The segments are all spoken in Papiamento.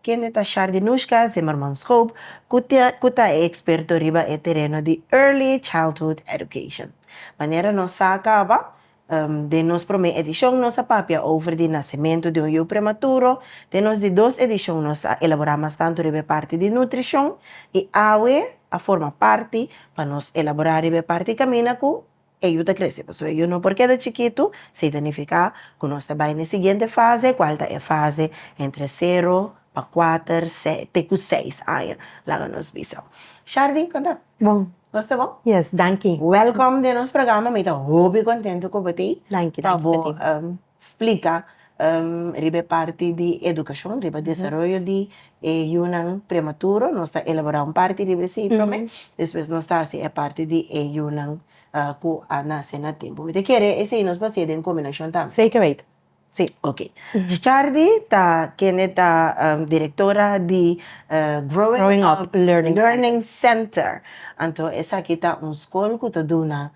Kende ta Shardinushka Zimmermanskoob ku ta ku ta e eksperto riba e tereno di Early Childhood Education. Manera nos sa kaba, den nos promé edishon nos a papia over di nasementu di un yu prematuro, den nos di dos edishon nos a elaborá mas tantu riba e parti di nutrishon, i awe a forma parti pa nos elaborá riba e parti kaminda ku E yu ta krese, pasobra e yu no por keda chikitu, seita nifiká ku nos ta bai na e siguiente fase, kual ta e fase entre sero pa kuater, sèt, te ku seis aña. Laga nos bisa. Shardy, konta. Bon. Nos ta bon? Yes, danki. Wèlkòm den nos programa. Mi ta hopi kontentu ku bo ta ei. Danki, danki pa ti. splika riba e parti di edukashon, riba desaroyo di e yunan prematuro, nos ta elaborá un parti riba esei promé, despues nos ta hasi e parti di e yunan ku a nase na tempu. Mi ta kere esei nos por hasié den kombinashon tambe? Sekermente, sí. Ok. Shardy ta kende ta direktora di Growing Up Learning Center. Anto esaki ta un skol ku ta duna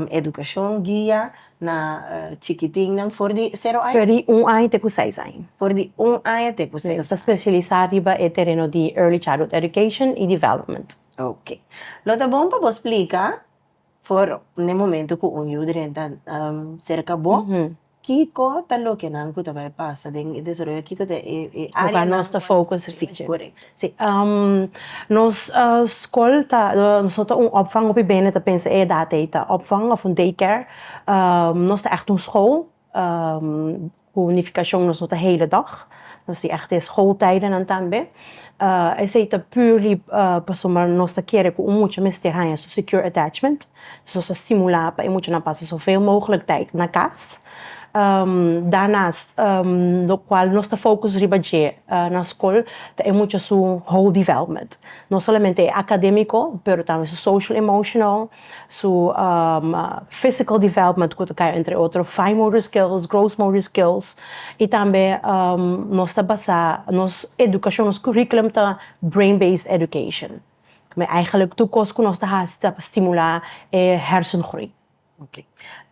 edukashon, guia Na chikitinnan for di sero aña. For di un aña te ku seis aña. For di un aña te ku seis aña. Nos ta spesialisá riba e tereno di Early Childhood Education i Development. Ok. Lo ta bon pa bo splika for n'e momentu ku un yu drenta serka bo, kiko ta lokenan ku ta bai pasa den e desaroyo, kiko ta e áreanan. Ku kua nos ta focus region. Korekto. Si, nos skol ta, noso ta un opvang hopi bende ta pensa e edat ei ta opvang of un day care, nos ta ègt un skol, ku nifikashon nos no ta heledòg, nos tin ègt e skoltijdennan tambe, esei ta purely pasobra nos ta kere ku un mucha mester haña su secure attachment, nos ta stimulá pa e muchanan pasa soveel moglek tijden na kas. Danas, lokual nos ta fokus riba dje na skol ta e mucha su whole development. No solamente e akademiko, pero tambe su social emotional, su physical development ku ta kai entre otro fine motor skills, gross motor skills, i tambe nos ta basá nos edukashon, nos curriculum ta brain based education. Eigenlik tur kos ku nos ta hasi ta pa stimulá e hèrsengroei. Ok.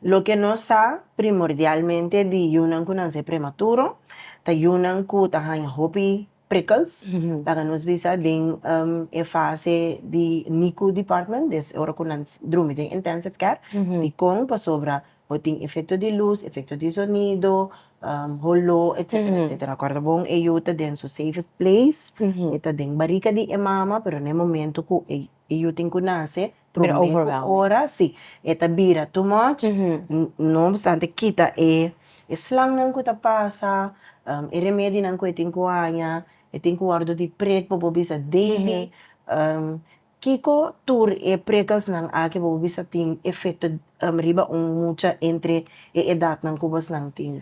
Loke nos sa primordialmente di yunan ku nan ser prematuro, ta yunan ku ta haña hopi prikkels, laga nos bisa den e fase di NICU department, des ora ku nan drumi den intensive care. Dikon? Pasobra bo tin efekto di lus, efekto di sonido, holó, etsetera, etsetera. Kòrda bon e yu ta den su safest place, e ta den barika di e mama, pero na e momentu ku e yu tin ku nase, Promé ku ora si e ta bira too much, N no obstante kita e slannan ku ta pasa, e remedinan ku e tin ku haña, e tin ku wòrdu di prek bobo bisa Davy, kiko tur e prekelsnan aki bobo bisa tin efekto riba un mucha entre e edatnan ku bosnan tin?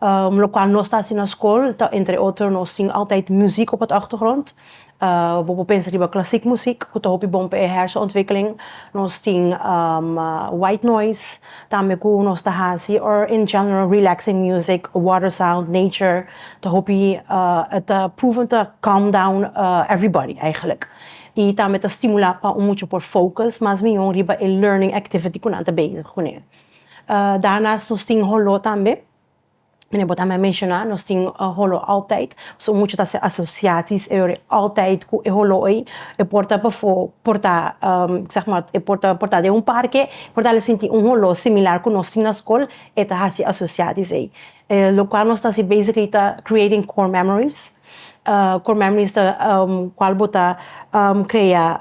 Um, locual nos ta haci na scol, ta entre otro nos tin altijd muziek op het achtergrond. Uh, bo por pensa riba classiek muziek, cu ta hopi bon pa e hersenontwikkeling. Nos tin, um, white noise, tambe cu nos ta haci, or in general relaxing musiek, water sound, nature, ta hopi, uh, e ta proeven ta calm down, uh, everybody eigenlijk. Y tambe ta stimula pa un mucha por focus mas miyon riba e learning activity cu nan ta bezig cun'e. Daarnaast nos tin holo tambe, bo tambe a menshona, nos tin holo Altoid, so mucha ta haci asociaties eyor e Altoid cu e holo ey, e por ta pafo por ta zeg ma e por ta por ta den un parke por ta sinti un holo similar cu nos tin na scol e ta haci asociaties ey, locual nos ta haci basically ta creating core memories, core memories ta cual bo ta crea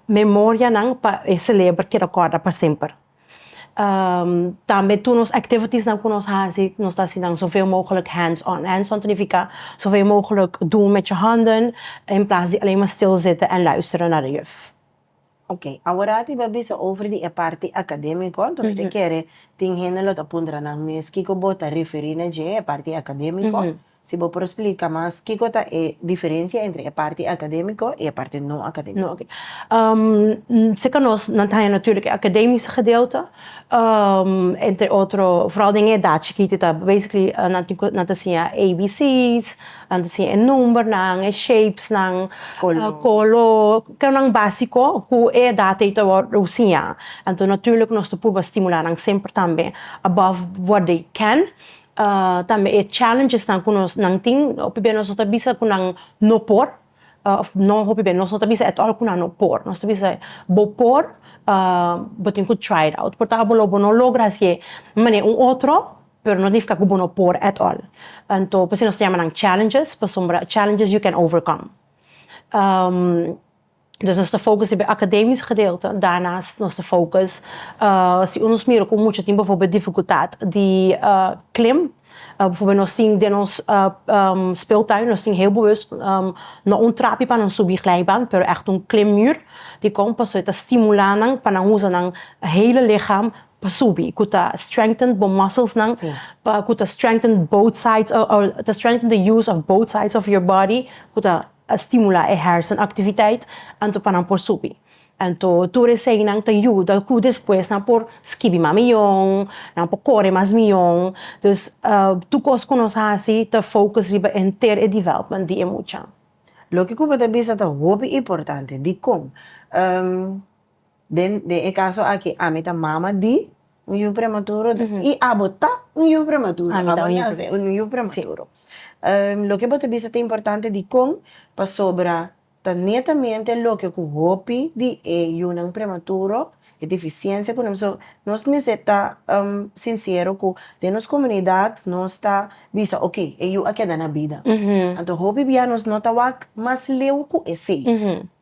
memorianan pa e celebra keda corda pa semper. tambe tur nos activitiesnan cu nos haci nos ta hacinan zo veo mogelijk hands on, hands on ta nifica zo veo mogelijk doen met je handen in plaats di alleen maar stil zitten en luisteren naar de juf. Oké, awor ti bo bisa over di e parti academico, entonces mi ta kere tin hende lo ta puntra nan mes kico bo ta referi na dje, e parti academico, Si bo por splica mas kico ta e diferencia entre e parti academico y e parti no academico. Oke. Seca nos nan ta haña natuurlijk e academica gedeelte, entre otro, vooral den e edad chikito ta basically nan tin cu nan ta siña ABC's, nan ta siña e numbernan, e shapesnan, color, cosnan basico cu e edad ey ta wordo siña. Anto natuurlijk nos ta purba stimula nan semper tambe above what they can. Tambe e challengesnan ku nan tin, hopi bey nos no ta bisa ku nan no por, òf no hopi bey, nos no ta bisa at all ku nan no por, nos ta bisa bo por, bo tin ku try it out, por ta bo lo bo no logra hasié manera un otro, pero no nifiká ku bo no por at all, anto p'esei nos ta yama nan challenges, pasobra challenges you can overcome. Dus nos ta focus riba e academisch gedeelte, daarnaast nos ta focus si un nos mira cu mucha tin bijvoorbeeld dificultad di klim, bijvoorbeeld nos tin den nos speeltuin nos tin heel bewust no un trapi pa nan subi glijbaan pero echt un klimmuur, dikon pasobra e ta stimula nan pa nan usa nan hele lichaam pa subi cu ta strengthen bo musclesnan cu ta strengthen both sides ta strengthen the use of both sides of your body cu ta. a stimulá e hèrsenaktiviteit anto pa nan por subi. Anto tur eseinan ta yuda ku despues nan por skibi mas miyon, nan por kore mas miyon. Dus, tur kos ku nos hasi ta focus riba henter e development di e mucha. Loke ku bo ta bisa ta hopi importante. Dikon? Den den e caso aki ami ta mama di un yu prematuro y abo ta un yu prematuro, abo ta un yu prematuro. Loke bo ta bisa ta importante dicon? Pasobra ta netamente loke cu hopi di e yunan prematuro, e deficiencia cu nos, nos mester ta sincero cu den nos comunidad nos ta bisa ok e yu a keda na bida, anto hopi bia nos no ta wak mas leu cu esey.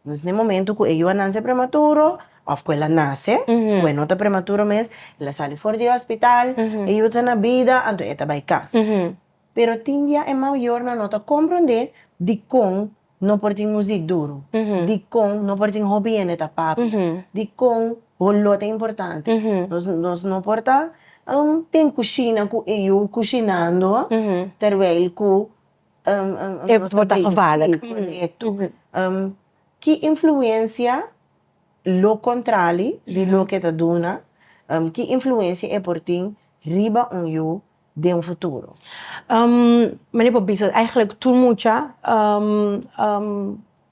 Nos na e momento cu e yuanan sa prematuro of cu el a nace, cu e no ta prematuro mes, el a sali for di e hospital, e yu ta na bida, anto e ta bay cas. Pero tin dia e mayornan no ta compronde dicon no por tin music duro, dicon no por tin hopi hende ta papia, dicon holó ta importante. Nos, nos no por ta den cushina cu e yu cushinando terwijl cu. Ki influensia lo kontrali di loke ta duna, ki influensia e por tin riba un yu den un futuro? Mane por bisa, eigenlijk tur mucha.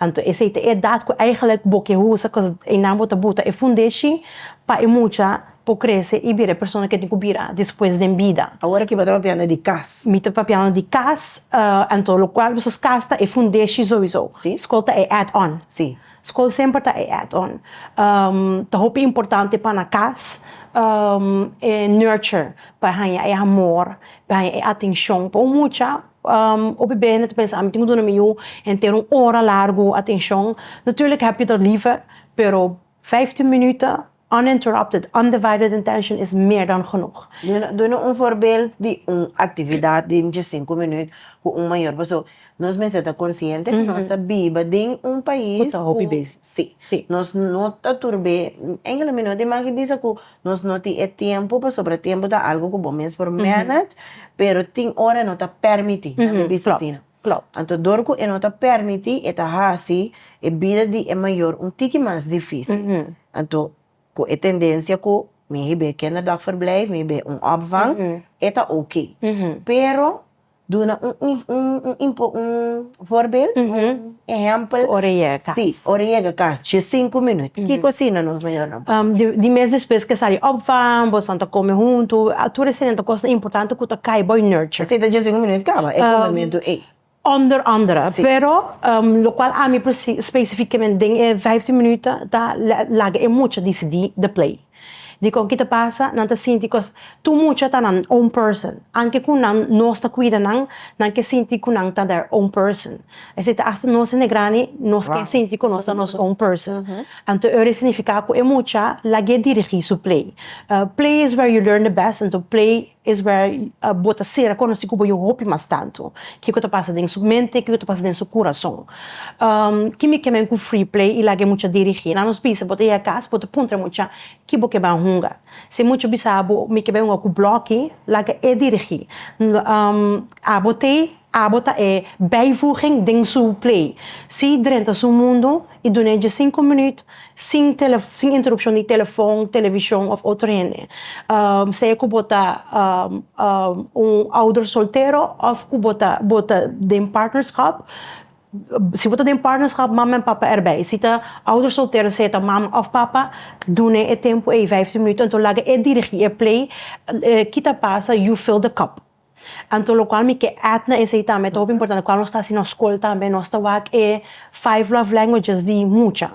Anto esei ta e edat ku eigenlik bo ke usa kos einan bo ta buta e fundeshi pa e mucha por krese i bira e persona ke tin ku bira despues den bida. Awor aki bo ta papiando di kas. Mi ta papiando di kas, anto lokual boso kas ta e fundeshi souiso. Skol ta e add on. Skol semper ta e add on. Ta hopi importante pa na kas e nurture pa haña e amor, pa haña e atenshon pa un mucha Hopi bey nan ta pensa ami tin cu duna mi yu henter un ora largo atencion. Natuurlijk heb je dat liever, pero vijftien minuten uninterrupted, undivided attention is meer dan genoeg. Duna un voorbeeld di un actividad den dje sinku minuut cu un mayor paso. Nos mester ta consciente cu nos ta biba den un pais cu ta hopi bezi. Sí. Nos no ta tur be, engelui mi no ta imagi bisa cu Nos no tin e tempu pasobra tempu ta algu ku bo mes por manage, pero tin ora e no ta permití na mi bista asina. Anto dor ku e no ta permití e ta hasi e bida di e mayor un tiki mas difísil. Anto ku e tendensia ku mi hib'é kinderdagverblijf, mi hib'é un opvang, e ta oké. Pero. Duna un vorbel, un ehempel. Ku ora yega kas. Si, ora yega kas, dje sinku minut. Ki kosina nos mayornan por hasi? Di mes despues ku e sali òf van, bosan ta kome huntu. Tur esei nan ta kosnan importante ku ta kai bo i nurture. Esei ta dje sinku minut kaba, e komementu ei. Ònder ònder. Pero lokual ami presi, spesifikamente den e vijftien minüt ta laga e mucha disidí di plei. Dikon ki ta pasa? Nan ta sinti kos tur mucha ta nan own person. Anke ku nan nos ta kuida nan, nan ke sinti ku nan ta der own person. Esei ta asta nos hende grandi nos ke sinti ku nos ta nos own person. Anto Euri signifiká ku e mucha lag'é dirigí su play. Play is where you learn the best, anto play Es wèr bo ta ser a konosí ku bo yu hopi mas tantu. Kiko ta pasa den su mente? Kiko ta pasa den su kurason? Ki mi kem'en ku Freeplay i laga e mucha dirigí? Na nos bisa bo ta yega kas, bo ta puntra e mucha, Ki bo keb'en hunga? Si e mucha bisa bo, Mi keb'en hunga ku blòki, laga e dirigí. Abo t'ei? Abo ta e bijvoeging den su Play. Zie Drenthe su mundo y duna e dje sinku minuut sin sin interrupcion di telefon, television of otro hende. Sea cu bo ta un ouder soltero of cu bo ta bo ta den partnerschap. Si bo ta den partnerschap mama en papa erbij. Si ta ouder soltero sea ta mama of papa duna e tempo ey vijftien minuut enton laga e dirigi e Play kita pasa You Fill The Cup. Anto locual mi ke add na esey tambe ta hopi importante cual nos ta haci nos school tambe nos ta wak e five love languages di mucha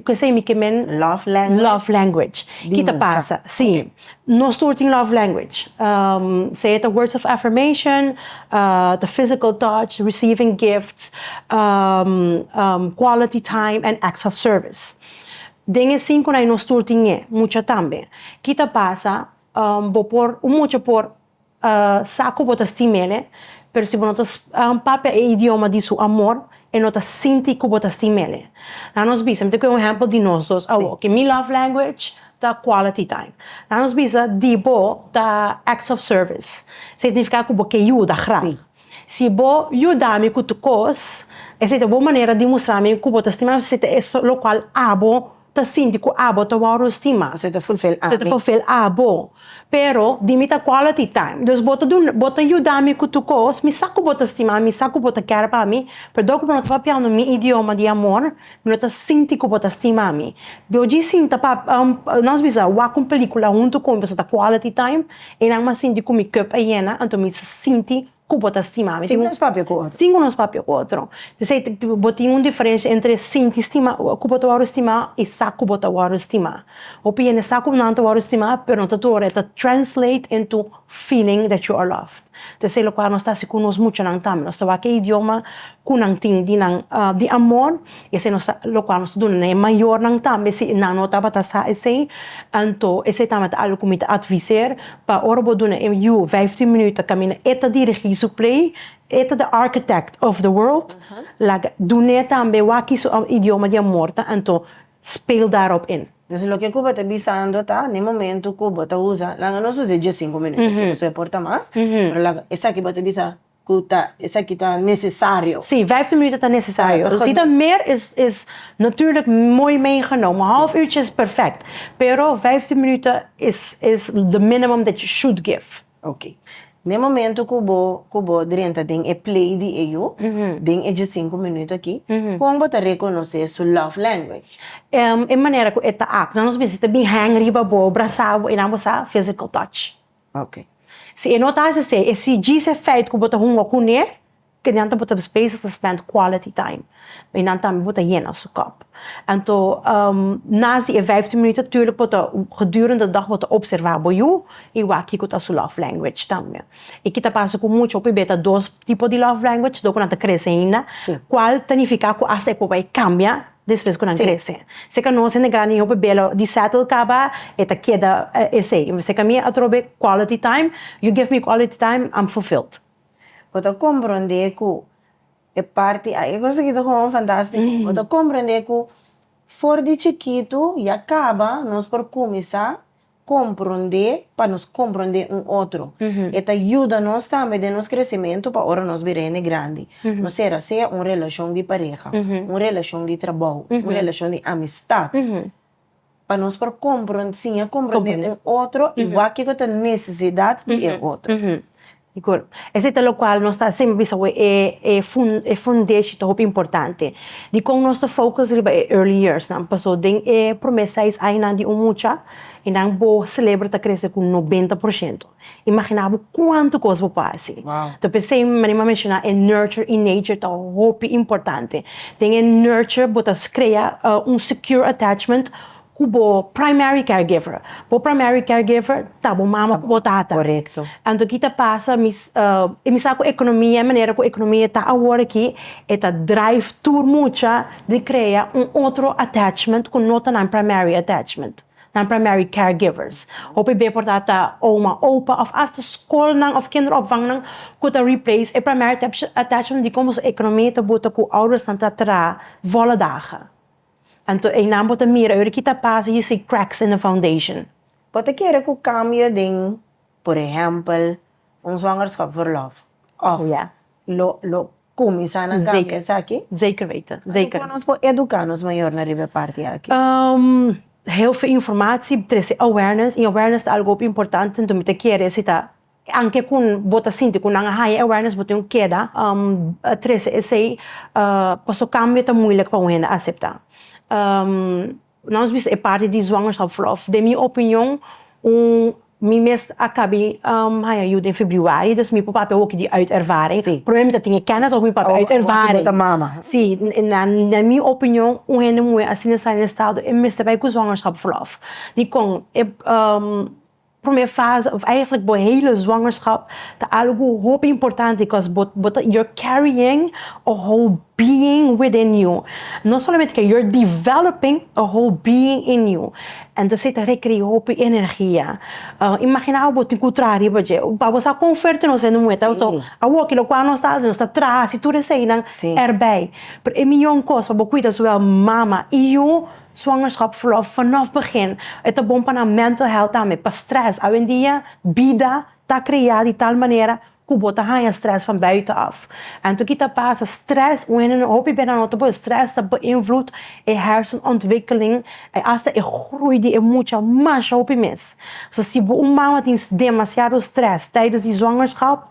cu esey mi ke men love language kita pasa si nos tur tin love language sea ta words of affirmation ta physical touch receiving gifts quality time and acts of service den e cinco nos tur tin e mucha tambe kita pasa. Bo por, un mucha por sa ku bo ta stima el'e, pero si bo no ta papia e idioma di su amor, e no ta sinti ku bo ta stima el'e. Laat nos bisa, mi ta kohe un ehèmpel di nos dos awor, ke mi love language ta quality time. Laat nos bisa di bo ta acts of service, signifiká ku bo ke yuda graag. Si bo yuda mi ku tur kos, esei ta bon manera di mustra mi ku bo ta stima mi, esei ta e lokual abo. ta sinti cu abo ta wou rosti mas, e ta fulfil ami. E ta fulfil abo, pero di mi ta quality time, dus bo ta duna, bo ta yuda mi cu tur cos, mi sa cu bo ta stima mi, mi sa cu bo ta care pa mi, pero dor cu bo no ta papiando mi idioma di amor, mi no ta sinti cu bo ta stima mi, bo djis sin ta pa, nos bisa wak un pelicula hunto cu mi pasobra ta quality time, e nan mas sinti cu mi cup a yena, anto mi ta sinti. Ku bo ta stima mi. Sin ku nos papia ku otro. Sin ku nos papia ku otro. P'esei bo tin un diferensha entre sinti stima ku bo ta wòrdu stima i sa ku bo ta wòrdu stima. Hopi hende sa ku nan ta wòrdu stima pero no ta tur ora e ta translate into feeling that you are loved. P'esei lokual nos ta hasi ku nos muchanan tambe. Nos ta wak e idioma ku nan tin di nan di amor i esei nos ta lokual nos ta duna nan e mayornan tambe si nan no tabata sa esei. Anto esei tambe ta algu ku mi ta adviser. Pa ora bo duna e yu vijftien minuut ta camina e ta dirigi su play, e ta the architect of the world, laga dun'e tambe waki su idioma di amor ta anto speel daarop in. Dus loke cu bo ta bisando ta n'e momento cu bo ta usa, laga nos usa e diescinco minuut aki pasobra e por ta mas, pero laga esaki bo ta bisa. Cu ta, esaki ta necesario. Sí, vijftien minuten ta necesario. El tin ta meer is, is natuurlijk mooi meegenomen. Een half uurtje is perfect. Pero vijftien minuten is, is the minimum that you should give. Ok. Na e momento cu bo, cu bo drenta den e play di e yu, den e djesinku minuten aki, con bo ta reconoce su love language? Ehm, e manera cu e ta act. Nan nos bisa ta bin hang riba bo, brasa bo y nan bo sa physical touch. Ok. Si e no ta hasi esei, e si djis efeit ku bo ta hunga kuné, e nan ta bo ta bezig ta spend quality time. E nan tambe bo ta yena su kòp. Anto, nas di e vijftien minuut aturlik bo ta, gedurende dag bo ta opserva bo yu i wak kiko ta su love language tambe. I kita pasa ku mucha hopi be ta dos tipo di love language, do ku nan ta krese ainda. Kual ta nifiká ku asta e por bai kambia? Despues cu nan crece. Si ca nos a negar ni hopi bela di settle caba, e ta keda esey. Si ca mi atrobe quality time, you give me quality time, I'm fulfilled. Bo ta compronde cu e parti aki, cosa aki ta gewoon fantastico. Bo ta compronde cu for di chikito ya caba nos por cuminsa Komprondé pa nos komprondé un otro. E ta yuda nos tambe den nos kresementu pa ora nos bira hende grandi. No sera, sea un relashon di pareha, un relashon di trabou, un relashon di amistat, pa nos por kompron, siña komprondé un otro i wak kiko ta nesesidat di e otro. I kor. Esei ta lokual nos ta siempre bisa awe e e fundeshi ta hopi importante di kon nos ta focus riba e early years nan paso den e prome seis añanan di un mucha i nan bo celebra ta krese ku noventa por shento. Imagina bo kuantu kos bo por hasi. Ta pesei manera mi a menshoná e nurture i nature ta hopi importante. Den e nurture bo ta crea un secure attachment cu bo primary caregiver. Bo primary caregiver ta bo mama cu bo tata. Correcto. Anto ki ta pasa, mi y mi sa cu economia, e manera cu economia ta awor aki, e ta drive tur mucha di crea un otro attachment cu no ta nan primary attachment, nan primary caregivers. Hopi be por ta ta oma, opa of hasta scolnan of kinderopvangnan cu ta replace e primary attachment dicon boso economia ta buta cu oudersnan ta traha vola daga. Anto einan bo ta mira ora ki ta pasa you see cracks in the foundation. Bo ta kere ku kambio den por ehèmpel un zwangerschapsverlof òf lo lo kuminsá na kambio esaki? Zeker weten, zeker. Ora ku nos por eduká nos mayornan riba e parti aki? Heelfe informatie, trese awareness i awareness ta algo hopi importante, anto mi ta kere si ta Anke ku bo ta sinti ku nan a haña e awareness, bo tin ku keda trese esei paso kambio ta muilik pa un hende aseptá. Nan nos bisa e parti di zwangerschap of verlof. Den mi opinion, un, mi mes a kabi haña yu den februari, dus mi por papia woki di uit ervaring. Primero mi ta tin e kennis òf mi papia uit ervaring. Òf mi ta mama. Sí, na mi opinion, un hende muhé asina sa den estado, e mester bai ku zwangerschap verlof. Dikon? Prome fase of eigenlijk bo hele zwangerschap ta algo hopi importante cos bo bo ta you're carrying a whole being within you. No solamente ke you're developing a whole being in you. Entosé ta rekre'e hopi energia. Imagina bo tin ku traha riba dje. Ba bo sa kon fuerte nos hende muhe ta. So, awo kilo kua nos ta hasi, nos ta traha hasi tur eseinan erbij. Pero e mihó kos pa bo kuida zowel mama i yu. Swangerschap verlof fanof begin e ta bon pa nan mental health tambe, pa stress. Awendia bida ta crea di tal manera cu bo ta haya stress van buiten af. Anto ki ta pasa stress un hende no hopi bira no ta bon, stress ta beïnvloed e hersenontwikkeling en hasta e groei di e mucha masha hopi mes. So si bo un mama tin demasiado stress tijdens di zwangerschap.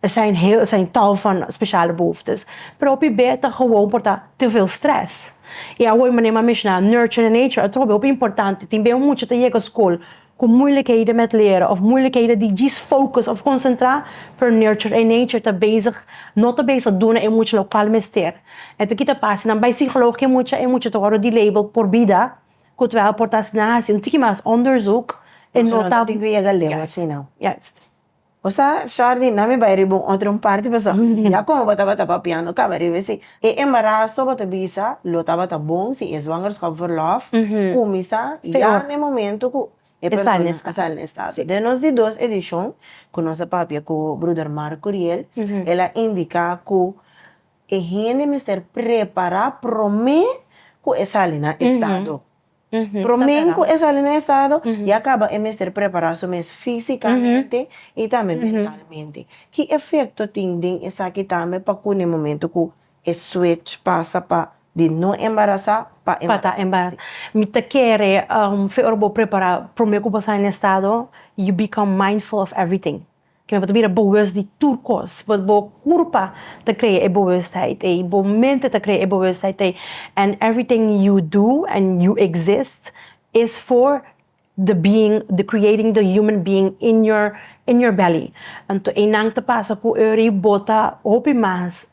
Esei hel esei tal van speciale behoeftes, pero hopi be ta gewoon por ta te veel stress. Y awoy manera m'a menshoná nurture and nature atrobe hopi importante. Tin be un mucha ta yega skol cu moeilijkheden met leren of moeilijkheden di djis focus of concentrá, pero nurture and nature ta bezig no ta bezig duna e mucha lo cual mester. Enton ki ta pasa? Nan bay sigeloof cu e mucha, e mucha ta worde delabeled por bida, cu terwijl por ta asina haci un tiki mas onderzoek, e no ta. Tin cu yega leu asina. Juist. Bo sa, Shardy, nan mi bai riba un otro un parti pasobra ya como bo tabata papiando caba riba esey. E embarazo bo ta bisa lo tabata bon, si e zwangerschapverlof cuminsa ya na e momento cu e persona a sali na estado. Den nos di dos edicion cu nos a papia cu Bruder Mark Curiel, el a indica cu e hende mester prepara prome cu e sali na estado. Promen cu e sali na estado, ya caba e mester prepara su mes fisicamente y tambe mentalmente. Ki efecto tin den esaki tambe pa cu na e momento cu e switch pasa pa di no embarasa pa embarasa? Mi ta kere fe ora bo prepara, prome cu bo sali na estado, you become mindful of everything. Kende bo ta bira boes di tur kos, but bo kurpa ta krea e boesheid ei, bo mente ta krea e boesheid ei, and everything you do and you exist is for the being, the creating the human being in your in your belly. Anto einan ta pasa ku ora yu bota hopi mas.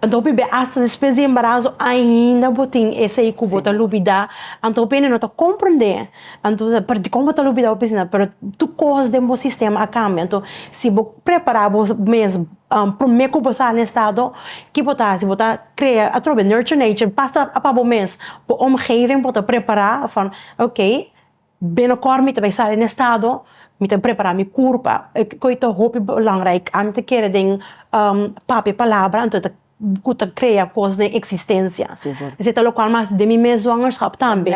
Anto bebé asta despues di embarazo ainda bo tin esei ku bo ta lubidá. Anto bo no ta komprendé. Anto parti kon bo ta lubidá bo piensa nan. Pero tur kos den bo sistema a kambia. Anto si bo prepará bo mes promé ku bo sa na estado ki bo ta hasi? Bo ta krea atrobe di nurture nature pasa pa bo mes. Bo omgeving bo ta prepará. Bo fala, ok. Binokort mi ta bai sali na e stado, mi ta prepara mi kurpa, koe ta hopi belangrijk ante kere den papia palabra anto ta ku ta krea kos den eksistensia, esei ta lokual mas den mi mes zwangerskap tambe,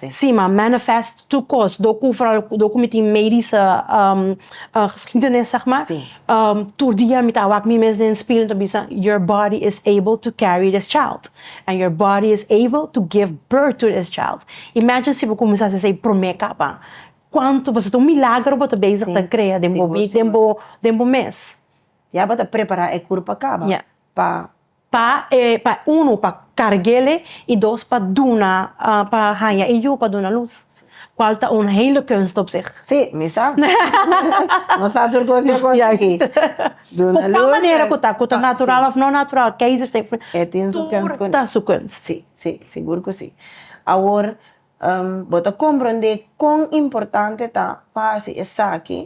si ma manifest tur kos dor ku foral dor ku mi tin meidische geskiedenis sègmà. Tur dia mi ta wak mi mes den spil, mi ta bisa, Your body is able to carry this child. And your body is able to give birth to this child. Imagine si bo kuminsá hasi esei promé kapa. Kuantu, pasobra ta un milagro bo ta bezig ta krea den bo mes. Ya bo ta prepará e kurpa kaba. pa. Pa e pa unu pa kargele i dos pa duna pa haña e yu pa duna lus kual ta un hele kunst op sih. Si, mi sa. No sa tur kos yo kos aki. Duna lus. Ku tal manera ku ta, ku ta natural òf no natural keizer sef e tin su kunst tur ta su kunst. Si, si, sigur ku si. Awor bo ta komprondé kon importante ta pa hasi esaki.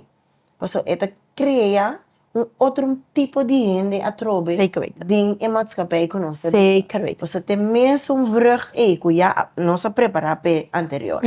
Pasobra e ta krea un otro tipo di hende atrobe den e matskapij ku nos ta biba. Pasobra te mes un vrug ei ku ya nos a prepara p'e anterior,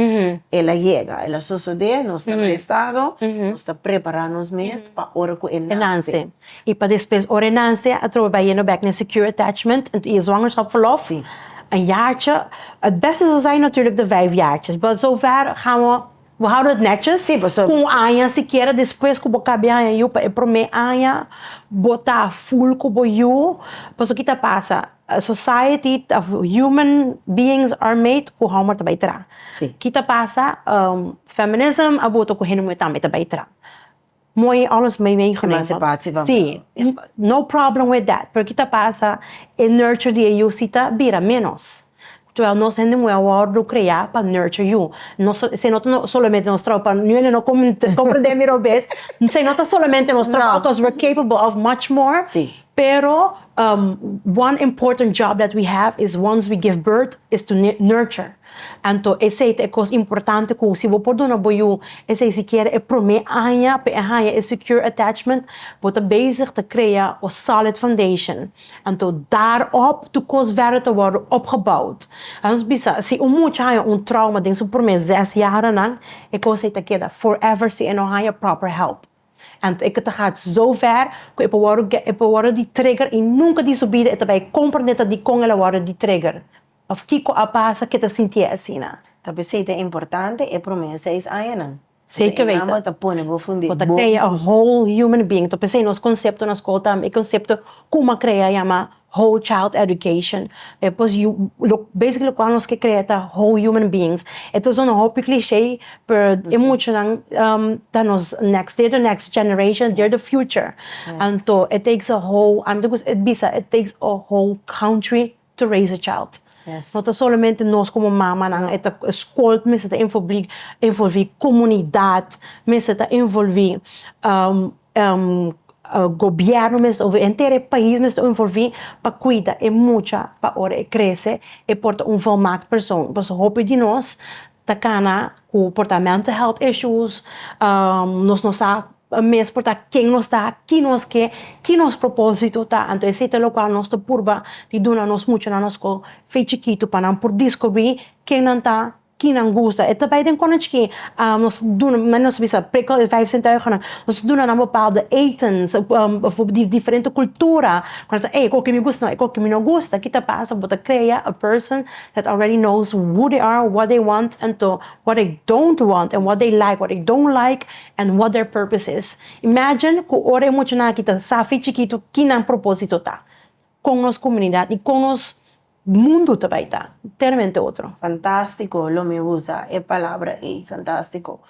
el a yega, el a sosode, nos ta na e estado, nos ta prepara nos mes pa ora ku e nase. I pa despues, ora e nase, atrobe bai yendo bèk na e secure attachment, i e zwangerschap verlof, un jaartje, het beste zou zijn natuurlijk de vijf jaartjes, bot zover gaan we. Bo houda et netjes? Sí, pastoor. Cu un aña sikiera despues cu bo cabia haña yu pa e prome aña, bo ta full cu bo yu. Pastoor, ki ta pasa? Society of human beings are made cu homber ta bay tra. Sí. Ki ta pasa? Feminism a bota cu hende muher tambe ta bay tra. Mooi alles meegenomen. Emancipatie van vrouw. Sí, no problem with that. Pero kita pasa, e nurture di e yu si ta bira menos. Terwijl nos hende muhé a wordo crea pa nurture yu. Nos, se no ta solamente nos trabaho pa, nu hende no comprende mi robes, se no ta solamente nos trabaho because we're capable of much more. Sí. Pero one important job that we have is once we give birth is to nurture. Anto esei ta e kos importante ku si bo por duna bo yu esei sikiera e promé aña pa e haña e secure attachment, bo ta bezig ta krea un solid foundation. Anto daarop tur kos verder ta wòrdu opgebouwd. Laat ons bisa, si un mucha haña un trauma den su promé zes jaranan, e kos ei ta keda forever si e no haña proper help. Anto e ke ta gat zo ver ku e por wòrdu e por wòrdu di trigger i nunka disobida e ta bai komprendé ta dikon el a wòrdu di trigger. Òf kiko a pasa ke ta sintié asina? Ta p'esei ta importante e promé seis añanan. Pasobra e Mama ta pone bo fund'é bon. Bo ta krea un whole human being. Ta p'esei nos konsepto na skol tambe e konsepto Kuma a Krea a yama Whole Child Education. Pues yu basically lokual nos ke krea ta whole human beings. E ta sona hopi klishé pero e muchanan ta nos next, they're the next generation, they're the future. Anto it takes a whole, ami ta gusta bisa it takes a whole country. to raise a child. No ta solamente nos como mamanan, e ta school mester ta envolvi, envolvi comunidad, mester ta envolvi gobierno mester ta envolvi, henter e pais mester ta envolvi pa cuida e mucha pa ora e crece e por ta un volmaakt persoon, pasobra hopi di nos ta cana cu por ta mental health issues, nos no sa mes por ta ken nos ta, ki nos ke, ki nos proposito ta, anto esey ta locual nos ta purba di duna nos muchanan na scol fe chikitu pa nan por discubri ken nan ta, ki nan gusta, e ta bay den cona chiki nos duna nan, nos bisa prikkel e vijf sintuigennan, nos duna nan bepaalde etens of di diferente cultura cu nan ta ey e coki mi gusta, e coki mi no gusta, ki ta pasa bo ta crea a person that already knows who they are, what they want and to what they don't want and what they like, what they don't like and what their purpose is. Imagine cu ora e muchanan aki ta sa afi chikitu ki nan proposito ta, con nos comunidad y con nos mundo ta bay ta, enteramente otro. Fantastico, lo mi usa e palabra ey, fantastico.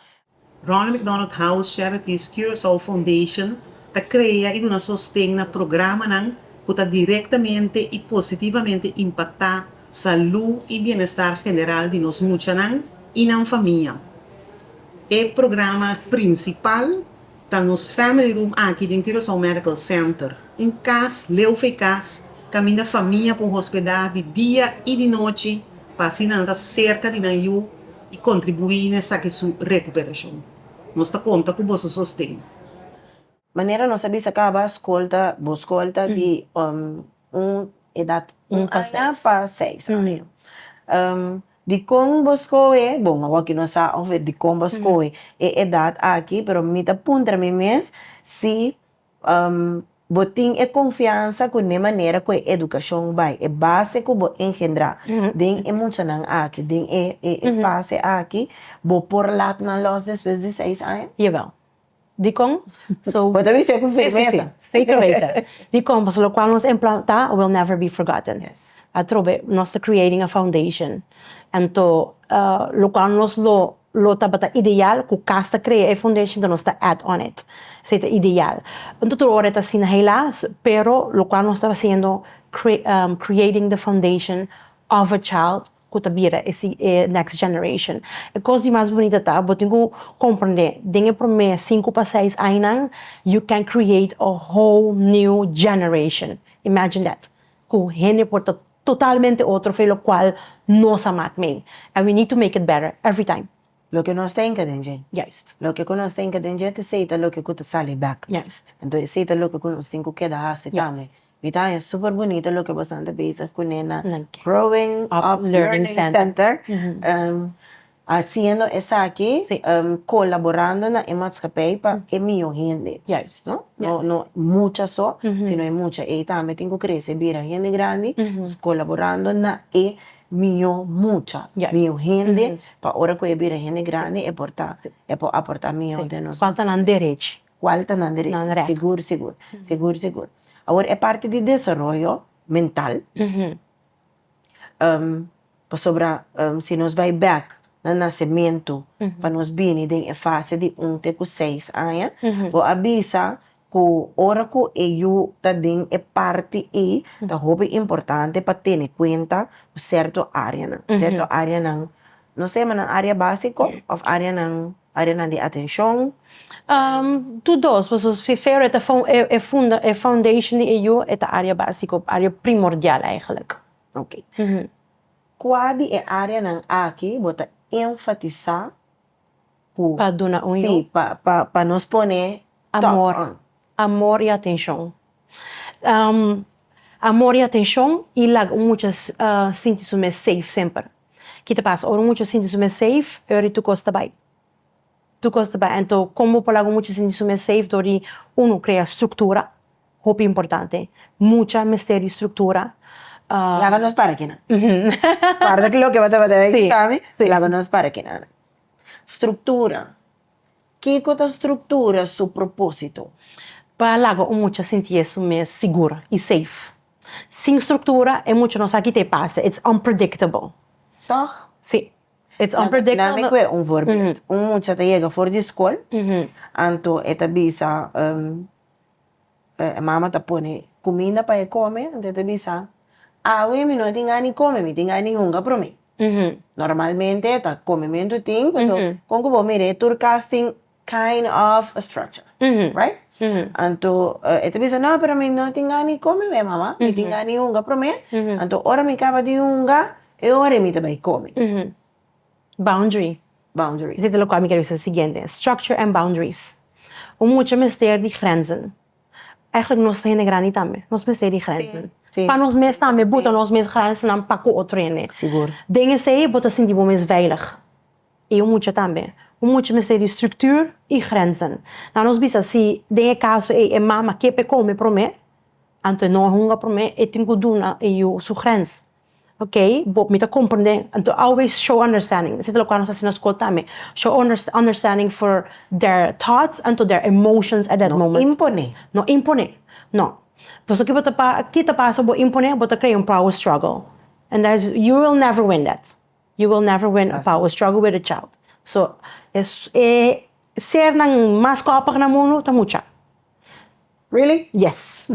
Ronald McDonald House Charities Curaçao Foundation ta crea y duna sosten na programanan cu ta directamente y positivamente impacta salud y bienestar general di nos muchanan y nan famia. E programa principal. Ta nos family room aki den Curaçao Medical Center. Un cas, leu fe cas, caminda famia por hospeda di dia y di nochi pa asina nan ta cerca di nan yu y contribui na esaki su recuperacion. Nos ta conta cu boso sosten. Manera nos a bisa caba, scolta, bo scolta di Un edat un aña pa seis aña. Dikon bo skohe, bo no awor no sa of dikon bo skohe e edat aki, pero mi ta puntra mi mes si bo tin e konfiansa ku ne manera ku e edukashon bai, e base ku bo engendrá den e muchanan aki, den e fase aki, bo por lat nan lòs despues di seis aña? Jawel. Dikon? So. Bo ta bisa e ku firmesa. Si, si, si. Zeker weten. Dikon? Pasobra lokual nos a implanta will never be forgotten. Yes. Atrobe nos ta creating a foundation. Anto lokual nos lo lo tabata ideal ku kas ta krea e foundation anto nos ta add on it. Esei ta ideal. Nto tur ora e ta asina helas, pero lokual nos ta hasiendo creating the foundation of a child cu ta bira e si e next generation. E cos di mas bunita ta bo tin cu comprende den e prome sinku pa seis añanan you can create a whole new generation, imagine that, cu hende por ta totalmente otro fe lo cual nos a mak meen and we need to make it better every time. Loke nos tenka den dje. Juist. Loke ku nos tenka den dje ta esei ta loke ku ta sali bek. Juist. Enton esei ta loke ku nos tin ku keda hasi tambe. Juist. Mi ta haña super bunita loke bosan ta bezig pone na Growing Up Learning Center, hasiendo esaki kolaborando na e matskapei pa e mihó hende. Juist. No, no, no mucha so, sino e mucha ei tambe tin ku krese bira hende grandi, kolaborando na e mió mucha, mió hende, pa ora ku e bira hende grandi e por ta, e por aportá mió den nos. Kual ta nan derechi. Kual ta nan derechi. Nan rèt. Sigur sigur, sigur sigur. Awor e parti di desaroyo mental, pasobra si nos bai bèk na nasementu, pa nos bini den e fase di un te ku seis aña, bo a bisa Cu ora cu e yu ta den e parti ey, ta hopi importante pa tene cuenta cu certo areanan, certo areanan, no sé, ma nan area basico of areanan, areanan di atencion? Tu dos, paso si fero e ta e funda, e foundation di e yu, e ta area basico, area primordial eigenlijk. Ok. Cua di e areanan aki bo ta enfatisa Cu. Pa duna un yo. Sí, pa nos pone top on. Amor, amor y atencion. Amor y atencion y laga un mucha sinti su mes safe semper. Ki ta pasa? Ora un mucha sinti su mes safe e ora di tur cos ta bay. Tur cos ta bay. Anto como bo por laga un mucha sinti su mes safe dor di, uno, crea structura, hopi importante. Mucha mester di structura. Laba nos parkenan. Guarda loke bo tabata bay, Sami, laba nos parkenan. Struktura. Kiko ta struktura su propósito? Pa laga un mucha sinti e su mes sigur i seif. Sin struktura e mucha no sa kiko ta e pasa, it's unpredictable. Tòg? Sí, it's unpredictable. Nan mi kue un voorbeeld. Un mucha ta yega for di skol, anto e ta bisa. E mama ta pone kuminda pa e kome, anto e ta bisa, Awe mi no a tin gani kome, mi tin gani hunga promé. Normalmente e ta kome mentu tin, paso kon ku bo mira e tur kas tin kind of a structure, right? Anto e ta bisa, No, pero mi no a tin gani kome awe mama, mi tin gani hunga promé, anto ora mi kaba di hunga, e ora mi ta bai kome. Boundary. Boundary. Dit e lokual mi kier bisa siguiente, structure and boundaries. Un mucha mester di grenzen. Eigenlijk nos ta hende grandi tambe, nos mester di grenzen. Pa nos mes tambe, buta nos mes grensnan pa ku otro hende. Sigur. Den esei bo ta sinti bo mes veilig. I un mucha tambe. Un mucha mester di structuur i grenzen. Laat nos bisa si den e kaso ei e mama ke pe kome promé, anto e no a hunga promé, e tin ku duna e yu su grens. Ok, bo, mi ta komprendé. Anto always show understanding. Esei ta loke ku nos ta hasi na skol tambe. Show understanding for their thoughts and to their emotions at that moment. No imponé. No imponé. No. Pasobra ki bo ta, ki ta pasa ku bo imponé? Bo ta krea un power struggle. And that is, you will never win that. You will never win a power struggle with a child. So, e sernan mas kòpig na mundu ta mucha. Really? Yes!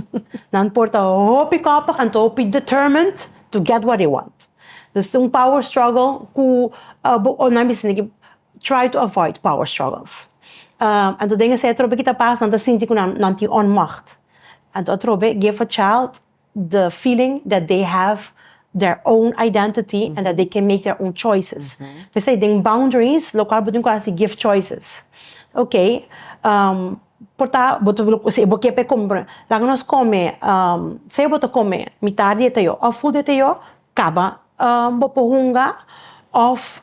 Nan porta hopi koppig and ta hopi determined to get what they want. Dus ta un power struggle ku bo nan bisa niki try to avoid power struggles. And to den esei atrobe ki ta pasa nan ta sinti ku nan tin onmacht. And to atrobe give a child the feeling that they have their own identity and that they can make their own choices p'esei den boundaries locual bo tin cu haci give choices ok um por ta bo ta si bo kier Kaba bo por hunga of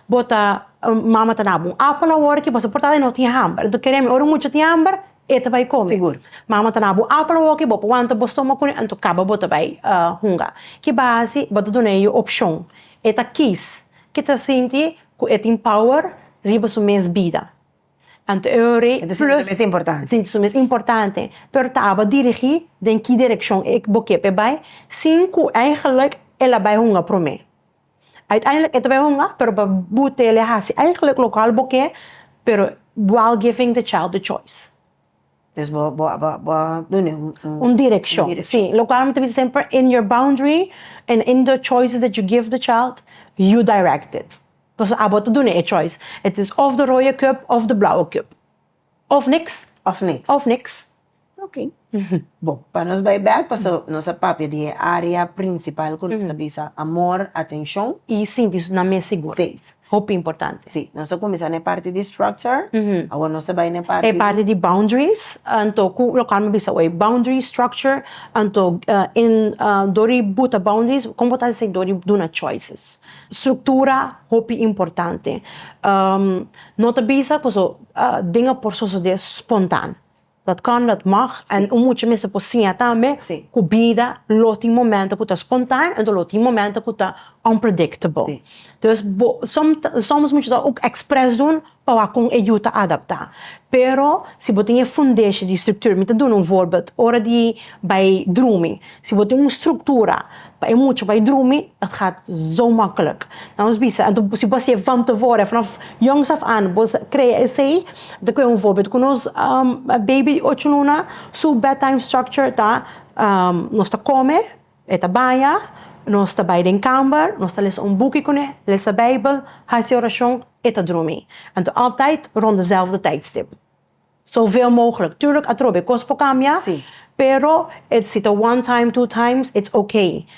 bo ta mama ta nabo un apel awor ki boso por tata e no tin hamber enton kere mi ora un mucha tin hamber e ta bai kome mama ta nabo un apel awor ki bo por wanta bo stomak kune enton kaba bo ta bai hunga ki base bo ta duna e yu opcion e ta kies ki ta sinti ku e tin power riba su mes bida. Anto e ora ei plus. Sinti su mes importante. Sinti su mes importante. Pero ta aba dirigí den ki direkshon bo ke pa e bai, sin ku eigelijk el a bai hunga promé. Uiteindelik e ta bai hunga, pero pa bo ta el a hasi eigelijk lokual bo ke, pero while giving the child the choice. Des bo bo bo a done un un direccion. Un direccion. Si, locual mi ta bisa semper, in your boundary and in the choices that you give the child, you direct it. Pasobra abo ta done e choice. Het is of de rode cup of de blauwe cup. Of niks. Of niks. Of niks. Ok. Bo, pa nos bay bek, paso nos a papia di e area principal cu nos a bisa amor, atencion. Y sinti nan mes seguro. Safe. Hopi importante. Sí, nos ta cuminsa na e parti di structure, awor nos ta bay na e parti di. E parti di boundaries, anto cu local mi bisa hoy, boundary structure, anto dor di buta boundaries con bo ta hasi dor di duna choices. Structura hopi importante, no ta bisa, pasobra dinga por sosode spontan. Dat kan, dat mag, en un mucha mester por siña tambe cu bida lo tin momento cu ta spontaneo, enton lo tin momento cu ta unpredictable. Dus bo, soms mucha ta ook expres doen pa wak con e yu ta adapta. Pero si bo tin e fundeshi di structuur, mi ta duna un voorbeeld, ora di bay drumi, si bo tin un structura Pa e mucha bai drumi, et gaat zo makkelijk. Na nos bisa, en si bo a sier vam tevoren, vanaf jongs af aan, bo crea esey, ta cu un voorbeeld cu nos baby di ocho luna, su bedtime structure ta, nos ta come, e ta baña, nos ta bai den kamer, nos ta lesa un boeki cune, lesa bijbel, haci oracion, e ta drumi. Anto altijd rond dezelfde tijdstip. Soveel mogelijk. Tuurlijk atrobe kos por cambia, Sí. pero et si ta one time, two times, it's ok.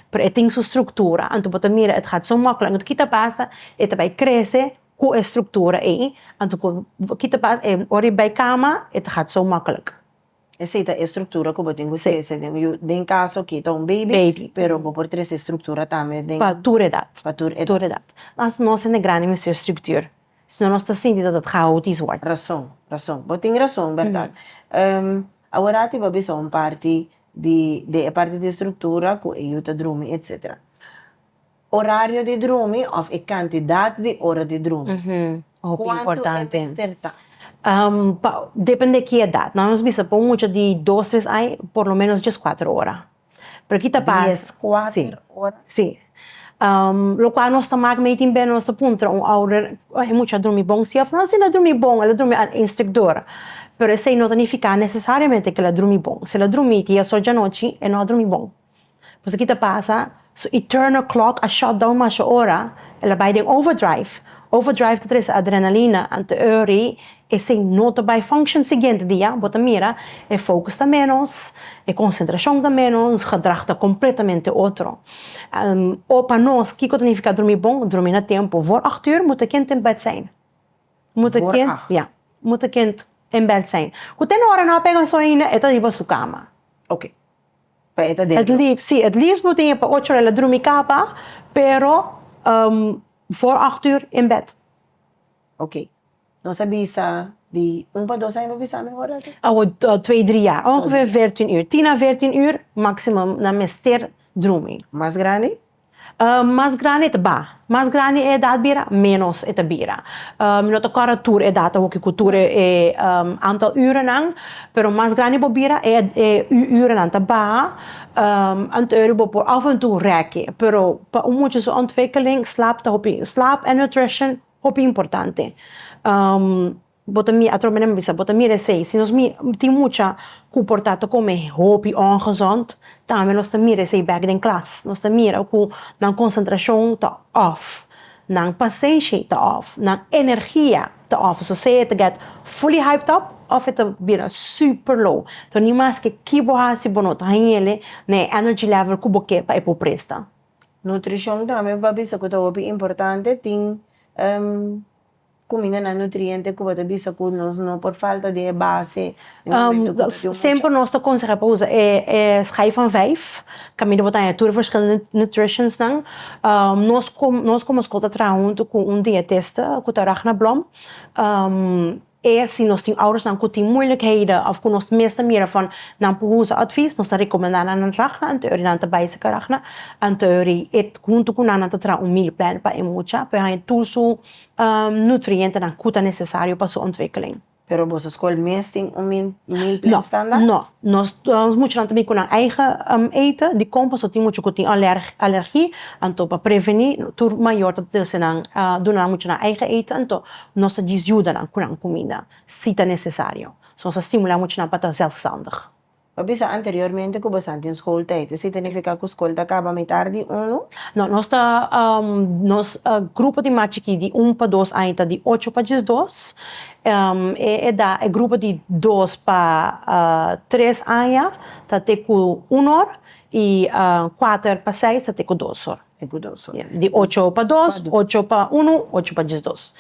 Pero et tin su structura, anto bo ta mira et gaat zo makkelijk, anto kita pasa, et ta bay crece cu e structura ey, anto cu kita pasa, e ora e bay cama, et ta gaat zo makkelijk. Esey ta e structura cu bo tin cu trece den yu, den caso aki ta un baby, Baby. pero bo por trece e structura tambe den, Pa tur edad. pa tur edad. Tur edad. Mas nos hende grandi mester structuur. Sino nos ta sinti dat ta traha otro is wòrdu. Rason, rason. Bo tin rason, bèrdat. Awor aki bo a bisa un parti di di e parti di struktura ku e yu ta drumi etsetera. Orario di drumi òf e kantidat di ora di drumi, kuantu e mester ta? Depende ki edat. Nan nos bisa pa un mucha di dos, tres ai por lo menos djes, kuater ora. Pero ki ta pasa. Dies, kuater ora. Si. Lokual nos ta mak mei tin bènen nos ta puntra un ouder, Oh, e mucha a drumi bon? Si a for asina a drumi bon, el a drumi al éns tek dor. Pero esei no ta nifiká nesesariamente ku el a drumi bon. Si el a drumi ti asochi anochi, e no a drumi bon. Pasobra ki ta pasa? Su eternal clock a shut down masha ora, el a bai den overdrive. Overdrive ta trese adrenalina, anto e ora ei Esei no ta bai function siguiente dia, bo ta mira e focus ta menos, e concentracion ta menos, nos gedrag ta completamente otro. O pa nos kico ta nifica drumi bon? Drumi na tempo. Voor acht uur moet de kind in bed zijn. Moet de kind, ja, moet de kind in bed zijn. Cu te no ora no a pega soinne, e ta riba su cama. Ok. Pa e ta den dor. Si, het liefst bo tin e pa ocho ora el a drumi capa, pero voor acht uur in bed. Ok. Nos a bisa di un pa dos aña bo bisa mi ora aki? Awo twee drie jaar, ongeveer veertien uur, tien a veertien uur maximum nan mester drumi. Mas grandi? Mas grandi e ta ba, mas grandi e edat bira menos e ta bira, mi no ta kòrda tur edat awo kico tur e aantal urennan, pero mas grandi bo bira e urennan ta baha, anteuri bo por af en toe rèkkie, pero pa un muchacho ontwikkeling slaap ta hopi, slaap en nutrition. Hopi importante bo ta mira atrobe nan mi bisa bo ta mira esei si nos mira tin mucha ku por ta tokome hopi ongezond tambe nos ta mira esei bek den klas nos ta mira ku nan konsentrashon ta òf nan pasenshi ta òf nan energia ta òf so sea e ta gèt fuli haipt op òf e ta bira super low so ni maske ki bo hasi bo no ta hañele na e ènergi lèvel ku bo ke pa e por presta. Nutrishon tambe bo ta bisa ku ta hopi importante. Tin kumindanan nutriente ku bo ta bisa ku nos no por falta di e base. Semper nos ta konsehá pa usa e skai van vijf kaminda bo ta haña tur e ferskillende nutrishonsnan. Nos komo skol ta traha huntu ku un dietista ku ta Ragna Blom. E si nos tin oudersnan ku tin muilikheden òf ku nos mes ta mira van nan por usa advies, nos ta rekomendá nan nan ràkna anteori nan ta bai sika ràkna, anteori e huntu ku nan nan ta traha un meal plan pa e mucha pa e haña tur su nutrientenan ku ta nesesario pa su ontwikkeling. Pero boso skol mes tin un meal plan standaard? No, no. Nos muchanan ta bin ku nan eigen ete di kon paso tin mucha ku tin alergie, anto pa prevení tur mayor ta duna nan mucha nan eigen ete anto Nos ta djis juda nan ku nan kuminda si ta nesesario. Nos ta stimulá muchanan pa ta zelfstandig. Bo a bisa anteriormente ku bo sa den skol tei. Esei ta nifiká ku skol ta kaba mitar di unu? No, nos ta nos grupo di mas chikí di un pa dos aña ta di ocho pa djis dos. E edá e grupo di dos pa tres aña ta te ku un or i kuater pa seis ta te ku dos or. Di ocho pa dos, ocho pa unu, ocho pa diesdos.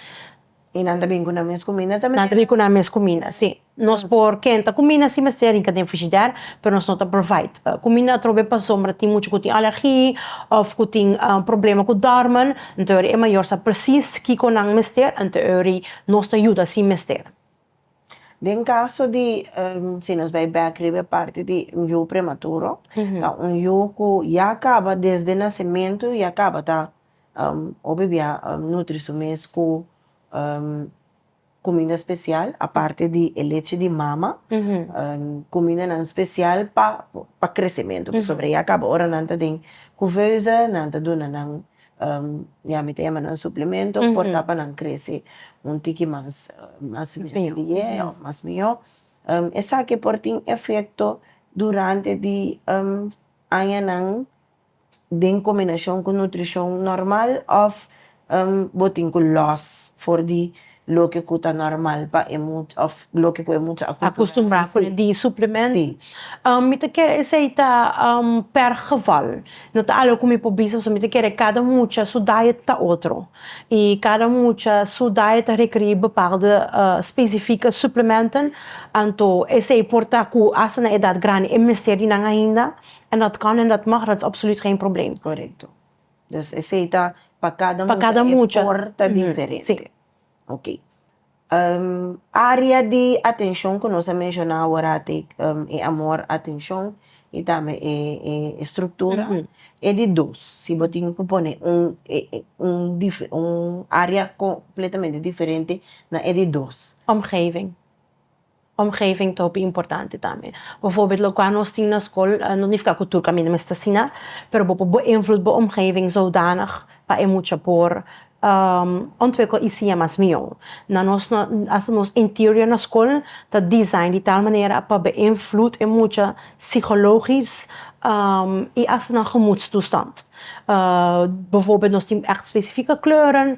I nan ta bin ku nan mes kuminda ta manera? Nan ta bin ku nan mes kuminda, si. Nos por kenta kuminda si mester rinka den frigider, pero nos no ta provide kuminda atrobe pasobra tin muchu ku tin alergi òf ku tin problema ku dòrmen. Anto ori e mayor sa presis kiko nan mester, anto ori nos ta yuda si mester. Den caso di, si nos bay bek riba e parti di un yu prematuro, ta un yu cu ya caba desde nacimento ya caba ta hopi bia nutri su mes cu cuminda special, aparte di e leche di mama, cumindanan special pa crecimento, pasobra ya caba ora nan ta den cuveusa nan ta duna nan Miami ta yama nan suplemento por ta pa nan krese un tiki mas liye òf mas mihó. Esaki por tin efekto durante di añanan den kombinashon ku nutrishon nòrmal òf bo tin ku lòs for di loke ku ta normal pa e mucha òf loke ku e mucha a akustumbrá kuné di suplemento. Si. Mi ta kere esei ta per geval, no ta algu ku mi por bisa pasobra mi ta kere kada mucha su diet ta otro i kada mucha su diet ta rekerí bepalde specifieke suplementen, anto esei por ta ku asta na edat grandi e mester di nan ainda en dat kan en dat mag, dat is absoluut geen probleem. Korekto. Dus esei ta pa kada mucha. Pa kada mucha. E por ta diferente. Si. Ok. Área di atenshon ku nos a menshona awor ate e amor, atenshon i tambe e struktura. E di dos, si bo tin ku pone un un área kompletamente diferente na e di dos. Omgeving. Omgeving ta hopi importante tambe. Bo forbit loke nos tin na skol no nifika ku tur kaminda mester siña, pero bo por beinvloed bo omgeving zodanig pa e mucha por ontwikkel i siña mas mihó. Na nos asta nos interior na skol ta design di tal manera pa beinvloed e mucha psikologisch i asta nan gemoedstoestand. Bo forbit nos tin ègt spesifike kleuren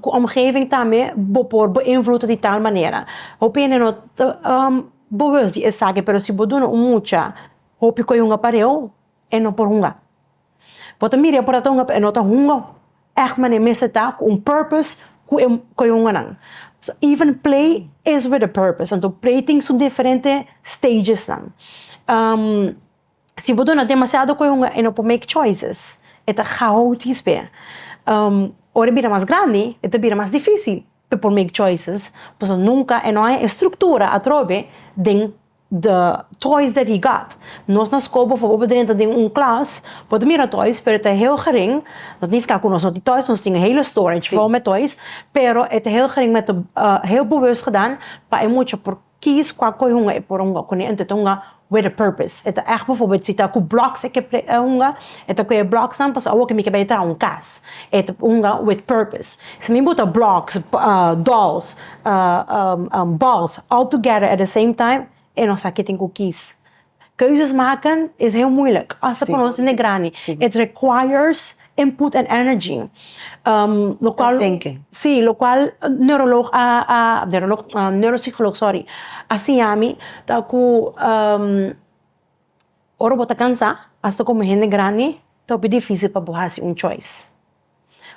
Cu omgeving tambe bo por beïnvloed di tal manera. Hopi hende no ta boweus di esaki, pero si bo duna un mucha hopi cu e hunga pareu, e no por hunga. Bo ta mira e por a ta hunga, pero e no ta hunga echt mane mester ta cu un purpose cu e cu e hunganan. Even play is with a purpose, anto play tin su diferente stagesnan. Si bo duna demasiado cu e hunga e no por make choices, e ta gauw dis be. Ora e bira mas grandi, e ta bira mas dificil pa e por make choices, pasobra nunca e no haña e structura atrobe den the toys that he got. Nos na school por favor bo drenta den un class, bo ta mira toys pero e ta heel gering, no ta nifica cu nos no tin toys, nos tin e hele storage vol met toys, pero e ta heel gering, me ta heel bewust gedan pa e mucha por Kies kua koe hunga e por hunga kune ento ta hunga with a purpose e ta echt befobert si ta ku blocks e ke hunga e ta ku e blocks nan paso awo ke mi ke bai traha un kas e ta hunga with purpose si mi buta blocks dolls balls all together at the same time e no sa ke tin ku kies Keuzes maken is heel moeilijk, hasta pa nos hende grandi. It requires input and energy. Um, lo cual, thinking. Sí, lo cual neurolog a, a neurolog, uh, neuropsicolog, sorry, a siña mi ta cu um, ora bo ta cansa, hasta como hende grandi, ta hopi difícil pa bo haci un choice.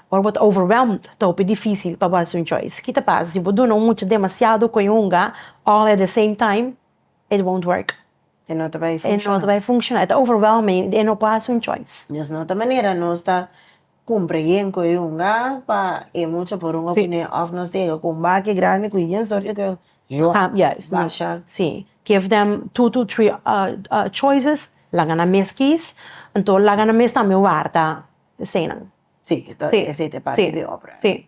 Ora bo ta overwhelmed, ta hopi difícil pa bo haci un choice. Ki ta pasa si bo duna un mucha demasiado cu e hunga all at the same time? it won't work. E no ta bai funciona. E no ta bai funciona. E ta overwhelming. E no por haci un choice. Mesnota manera nos ta cumpra yen cu e yunga pa e mucha por runga cu ne of nos ta yega cu un baki grandi cu yen suerte cu yo a basha. Si. Give them two to three choices. Laga nan mes kies. Enton laga nan mes tambe warda eseinan. Si. Esei ta e parti di e obra. Si.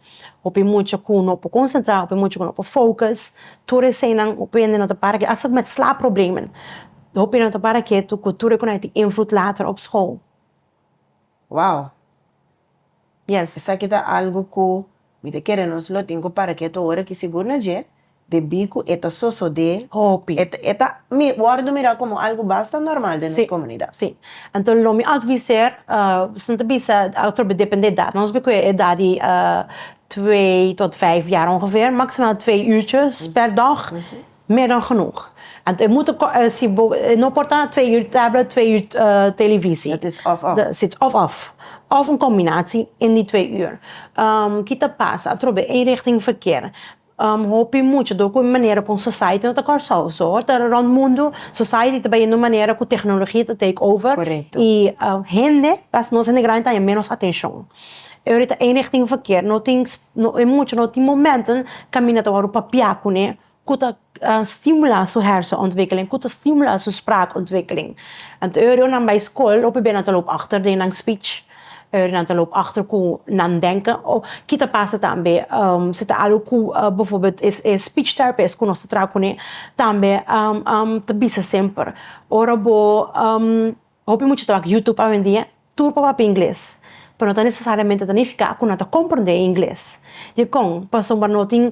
Hopi mucha cu no por concentra, hopi mucha cu no por focus. Tur eseynan, hopi hende no ta para cu hasta cu met slaapproblemen. Hopi no ta para ketu cu tur e cunai tin invloed later op school. Wow! Yes. Esaki ta algo cu mi ta kere nos lo tin cu para ketu ora ki sigur na dje Debí ku e ta sosodé hopi. E ta wòrdu mirá komo algu basta nòrmal den nos komunidat. Sí, sí. Anto lo mi adviser, nos no ta bisa atrobe depende di edat. Nos bikui edat di twee tot vijf jaar ongeveer, maksimaal twee uurtjes per dag, meer dan genoeg. Anto e moet, si bo no por ta twee uur tablet, twee uur televisie. Dat is òf òf. Sí, òf òf. Òf un kombinatie in di twee uur. Kita pasa atrobe eenrichting verkeer. Um hopi muchador cu e manera con society no ta Kòrsou. So ora ta rond mundu, society ta bai yendo manera cu tecnologia ta take over. Correcto. Y um hende, pas nos hende grandi ta haña ménos atencion. E horita enigtin verkeer no tin sp, e mucha no tin momenten caminda ta wòrdu papia cun'e cu ta um stimula su hersenontwikkeling, cu ta stimula su spraakontwikkeling. Anto e hora nan bai scol hopi beren nan ta loop achter den nan speech. Ora nan ta loop achter cu nan denken, of ki ta pasa tambe si ta algo cu bijvoorbeeld e speech therapist cu nos ta traha cune tambe ta bisa semper, ora bo, hopi mucha ta wak YouTube awendia, tur por papia ingles, pero no ta necesariamente ta nifica cu nan ta comprende e ingles. Dicon? Pasobra no tin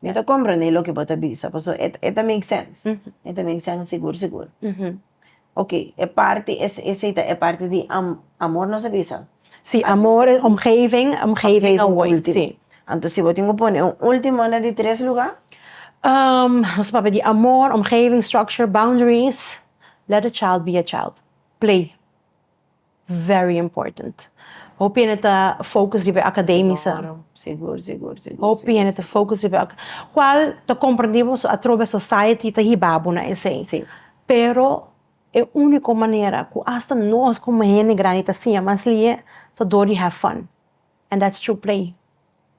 Mi ta komprendé loke bo ta bisa, paso e ta e ta make sense. E ta make sense sigur sigur. Ok, e parti es esei ta e parti di am amor nos a bisa. Si, amor, omgeving, omgeving a wòrdu ultimo. Si. Anto si bo tin ku pone un ultimo na di tres lugá? Nos a papia di amor, omgeving, structure, boundaries, let a child be a child, play. Very important. Hopi hende ta focus riba e academice. Sigur, sigur, sigur. Hopi hende ta focus riba e. Cual ta comprendible pasobra atrobe society ta hiba bo na esey. Si. Pero e unico manera cu hasta nos como hende grandi ta siña mas lie ta door di have fun and that's through play,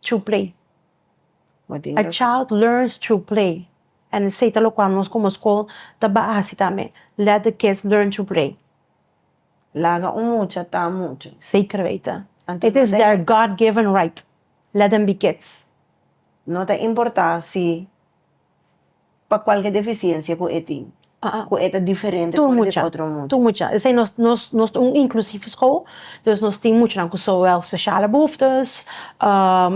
through play. Bo tin razon. A child learns through play and esey ta locual nos como school ta bahasi tambe, let the kids learn through play. Laga un mucha ta un mucha. Zeker weten. It is their God given right. Let them be kids. No ta importa si pa cualke deficiencia cu e tin, cu e ta diferente for di otro mucha. Tur mucha. Esey nos nos ta un inclusief school, dus nos tin muchanan cu zowel speciale behoeftes,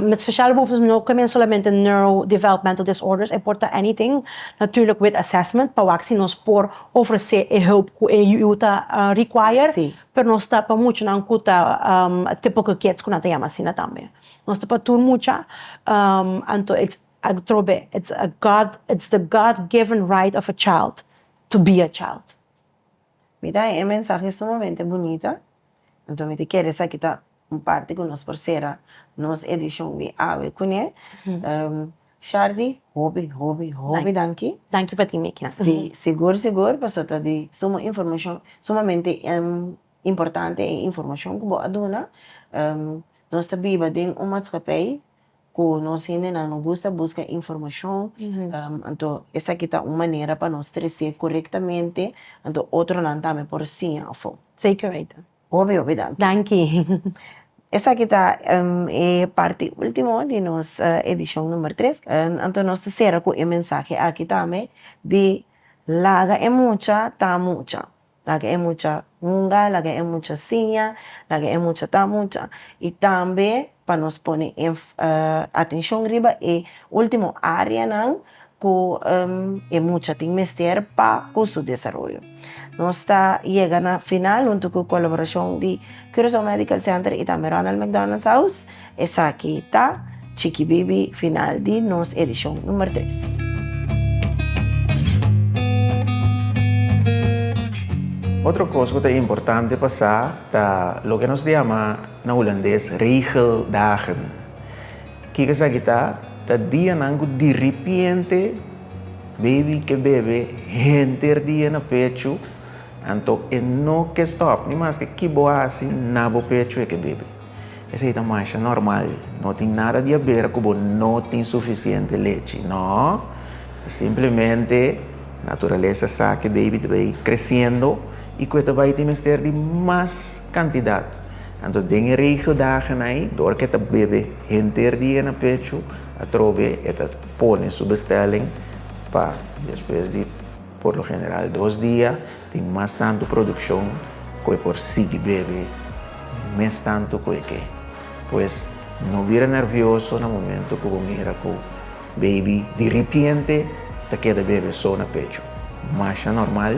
met speciale behoeftes no ta meen solamente neurodevelopmental disorders, e por ta anything, natuurlijk with assessment, pa wak si nos por. ofresé e hulp ku e yuyu ta require, pero nos ta pa muchanan ku ta tipo ku kids ku nan ta yama asina tambe. Nos ta pa tur mucha, anto it's atrobe it's a God it's the God given right of a child to be a child. Mi ta haña e mensahe sumamente bunita, anto mi ta kere esaki ta. Un parti cu nos por cera nos edicion di awe cune. Shardy, hopi, hopi, hopi danki. Danki pa tin Mickey. Si, sigur, sigur, pasobra ta di suma informacion, sumamente importante e informacion cu bo a duna. Nos ta biba den un matscapey cu nos hendenan no gusta busca informacion, anto esaki ta un manera pa nos trece corectamente, anto otronan tambe por siña afo. Zeker weten. Obio be danki. Danki. Esaki ta e parti ultimo di nos edishon number tres. Anto nos ta sera ku e mensahe aki tambe di laga e mucha ta mucha, laga e mucha hunga, laga e mucha siña, laga e mucha ta mucha i tambe. pa nos pone atenshon riba e último áreanan ku e mucha tin mester pa ku su desaroyo. Nos ta yega na final huntu ku kolaborashon di Curaçao Medical Center i tambe Ronald McDonald's House. Esaki ta chikibibi final di nos edishon número tres. Otro kos ku ta importante pa sa ta loke nos diama Na Hulandes, Regeldagen. Kiko esaki ta? Ta dianan ku diripiente baby ke bebe henter dia na pechu, anto e no ke stòp, ni maske ki bo hasi na bo pechu e ke bebe. Esei ta masha nòrmal, no tin nada di aber ku bo no tin sufisiente lechi, nò. E simplemente naturalesa sa ke baby ta bai kresiendo i ku e ta bai tin mester di mas kantidat. Anto den e regio dagen ai, dor ke ta bebe henter dia na pechu, atrobe e ta pone su bestelling pa despues di por lo general dos dia tin mas tantu produccion ku e por sigui bebe mes tantu ku e ke. Pues no bira nervioso na momento ku bo mira ku baby diripiente ta keda bebe so na pechu, masha normal.